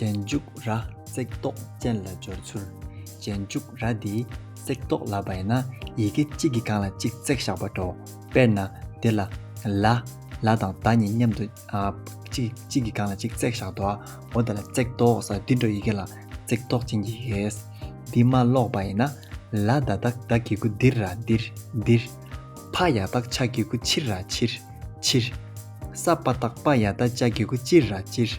རྗེས་འཇུག་ར་བརྩེགས་རྟོག་ཅན་ལ་སྦྱོར་ཚུལ། རྗེས་འཇུག་ར་འདིས་བརྩེགས་རྟོག་ལ་བས་ན་ཡི་གེ་གཅིག་གིས་གང་ལ་གཅིག་བརྩེགས་བཞག་པར་འགྲོའོ། དཔེར་ན། འདི་ལ། ལ། ལ་དང་ད་གཉིས་མཉམ་དུ། གཅིག་གཅིག་གིས་གང་ལ་གཅིག་བརྩེགས་བཞག་འགྲོའོ། འོ་ད་ལ་བརྩེགས་རྟོག་ཟེར་འདི་འགྲོ་ཡི་གེ་ལ། བརྩེགས་རྟོག་ཅན་གྱི་ཡི་གེ། འདི་མ་ཀློག་པ་ཡིན་ན། ལ་ད་ད་ད་གི་གུ་འདིར་ར་འདིར། འདིར། ཕ་ཡ་ཏག་ཆ་གི་གུ་ཕྱིར་ར་ཕྱིར། ཕྱིར། ས྄་པ་ཏག་པ་ཡ་ད་ཅ་གི་གུ་ཅིར་ར་ཅིར།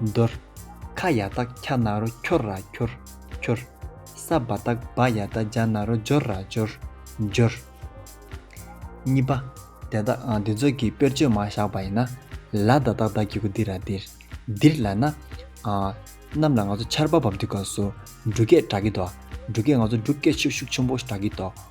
འདོར། ཁ་ཡག་རྟགས་འཁྱག་ན་རོ་འཁྱོར་ར་འཁྱོར། འཁྱོར། ས་བ་རྟགས་སྦ་ཡག་རྟ་འཇག་ན་རོ་འཇོར་ར་འཇོར། འཇོར། གཉིས་པ། དེ་དག་འདི་ཚོ་གི་དཔེར་བརྗོད་མ་བཞག་པ་ཡིན་ན། ལ་ད་ཏག་ཏག་གི་གུ་དིར་ར་དིར། དིར་ལ་ན། གནམ་ལ་ང་ཚོ་ཆར་པ་འབབ་དུས་སྐབས་སུ་འབྲུག་སྐད་གྲག་གི་འདུག་འབྲུག་སྐད་ང་ཚོ་འབྲུག་སྐད་ཤུག་ཤུག་ཆུན་པོ་གྲག་གི་འདུག།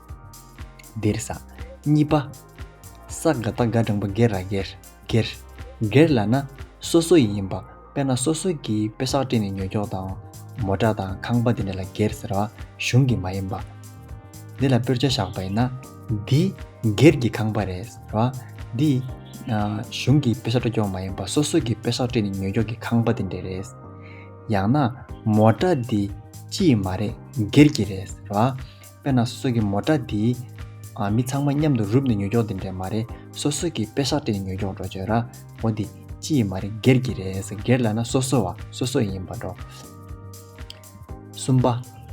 གདེར། ས། གཉིས་པ། ས་ག་རྟ་ག་སྦྲང་པ་སྒེར་ར་སྒེར། སྒེར། སྒེར་ལ་ན། སོ་སོ་ཡི་ཡིན་པ། དཔེར་ན་སོ་སོ་གིས་དཔེ་བསགས་བྲིས་ནས་ཉོ་སྐྱོག་དང། མོ་བྲ་དང་ཁང་པ་དེ་འདྲ་ལ་སྒེར་ཟེར་བ། གཞུང་གི་མ་ཡིན་པ། འདི་ལ་དཔེར་བྱ་བཞག་པ་ཡིན་ན། འདི། སྒེར་གྱི་ཁང་པ་རེད། ཟེར་བ། འདི། གཞུང་གིས་དཔེ་བསགས་བྲོ་སྐྱོག་མ་ཡིན་པ། སོ་སོ་གིས་དཔེ་བསགས་བྲིས་ནས་ཉོ་སྐྱོག་གི་ཁང་པ་དེ་འདྲ་རེད། ཡང་ན། མོ་བྲ་འདི། སྤྱི་ཡི་མ་རེད། སྒེར་གྱི་རེད། ཟེར་བ། དཔེར་ན་སྲོད་ཀྱི་མོ་ཏྲ་འདིས། མི་ཚང་མ་མཉམ་དུ་རུབ་ནས་ཉོས་སྐྱོང་དེ་འདྲས་མ་རེད། སོ་སོ་གིས་དཔེ་ཤག་སྤྲད་ནས་ཉོས་སྐྱོང་འགྲོ་བྱོས་ར། འོ་འདི། སྤྱི་ཡི་མ་རེད་སྒེར་གྱི་རེད། སྒེར་ལ་ན་སོ་སོ་བ། སོ་སོ་ཡིན་པར་འགྲོ། གསུམ་པ།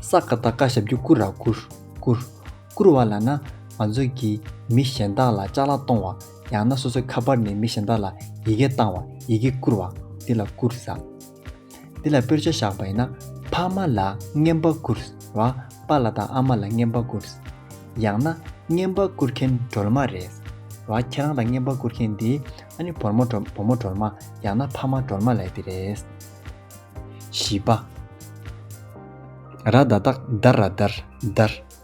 ས་ཀ་ད་ཀ་ཞབས་ཀྱི་བསྐུར་ར་བསྐུར། བསྐུར། བསྐུར་བ་ལ་ན། ང་ཚོས་ཀྱིས་མི་གཞན་དག་ལ་ལྕགས་ལ་གཏོང་བ། ཡང་ན་སོ་སོའི་ཁ་པར་ནས་མི་གཞན་དག་ལ་ཡི་གེ་བཏང་བ། ཡི་གེ་བསྐུར་བ། འདི་ལ་བསྐུར་ཟ། འདི་ལ་དཔེར་བྱ་བཞག་པ་ཡིན་ན། ཕ་མ་ལ་བརྔན་པ་བསྐུར་བ་པ་ལ་དང་ཨ་མ་ལ་བརྔན་པ་བསྐུར། ཡང་ན། བརྔན་པ་བསྐུར་མཁན་སྒྲོལ་མ་རེད། བ་ཁྱེད་རང་ལ་བརྔན་པ་བསྐུར་མཁན་འདི། ཨ་ནི་བོར་མོ་བྲོ་བུ་མོ་སྒྲོལ་མ་ཡང་ན་ཕ་མ་སྒྲོལ་མ་ལས་འདི་རེད། བཞི་པ། ར་ད་དག་དར་ར་དར་དར།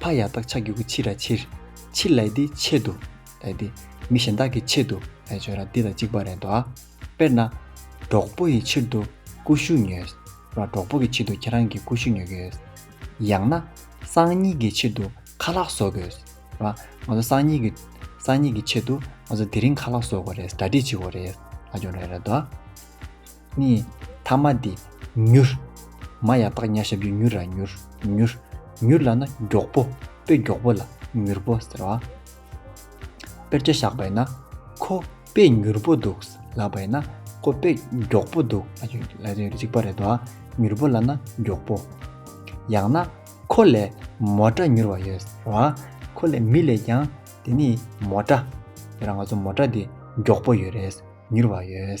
ཕ་ཡག་རྟགས་ཆགས་ཀྱི་གུ་ཕྱི་ར་ཕྱིར། ཕྱིར་ལས་འདི་ཆེད་དུ། ལས་འདི། མི་གཞན་དག་གི་ཆེད་དུ། ལས་བྱོས་ར་འདི་དང་གཅིག་པ་རེད་དོ། དཔེར་ན། གྲོགས་པོ་ཡི་ཕྱིར་དུ། ཀུ་ཤུ་ཉོས། ར་གྲོགས་པོ་གི་ཕྱིར་དུ་ཁྱེད་རང་གིས་ཀུ་ཤུ་ཉོ་གི་ཡོད། ཡང་ན། སང་ཉིན་གྱི་ཕྱིར་དུ། ཁ་ལག་བཟོ་དགོས། ར། ང་ཚོ་སང་ཉིན་གྱི། སང་ཉིན་གྱི་ཆེད་དུ། ང་ཚོ་དེ་རིང་ཁ་ལག་བཟོ་དགོས་རེད། གྲ་སྒྲིག་བྱེད་དགོས་རེད། ལ་སྦྱོང་རེ་རེད་དོ། ནི། ཐ་མ་འདི། མྱུར། མ་ཡང་དག་གཉའ་ཞབས་ཀྱི་མྱུར་ར་མྱུར། མྱུར། མྱུར་ལ་ན་མགྱོགས་པོ། དཔེ་མགྱོགས་པོ་ལ། མྱུར་པོ་ཟེར་བ། དཔེར་བརྒྱ་བཞག་པས་ན། ཁོ། དཔེ་མྱུར་པོ་འདུག། ལབ་པས་ན། ཁོ་དཔེ། མགྱོགས་པོ་འདུག། ལ་ཡང་གཅིག་པ་རེད་དོ། མྱུར་པོ་ལ་ན། མགྱོགས་པོ། ཡང་ན། ཁོ་ལས། མོ་ཏྲ་མྱུར་བ་ཡོད། ཟེར་བ། ཁོ་ལས་མི་ལས་ཀྱང། དེ་ནི། མོ་ཏྲ། དེ་རང་ང་ཚོ་མོ་ཏྲ་འདི། མགྱོགས་པོ་ཡོད་རེད། མྱུར་བ་ཡོད།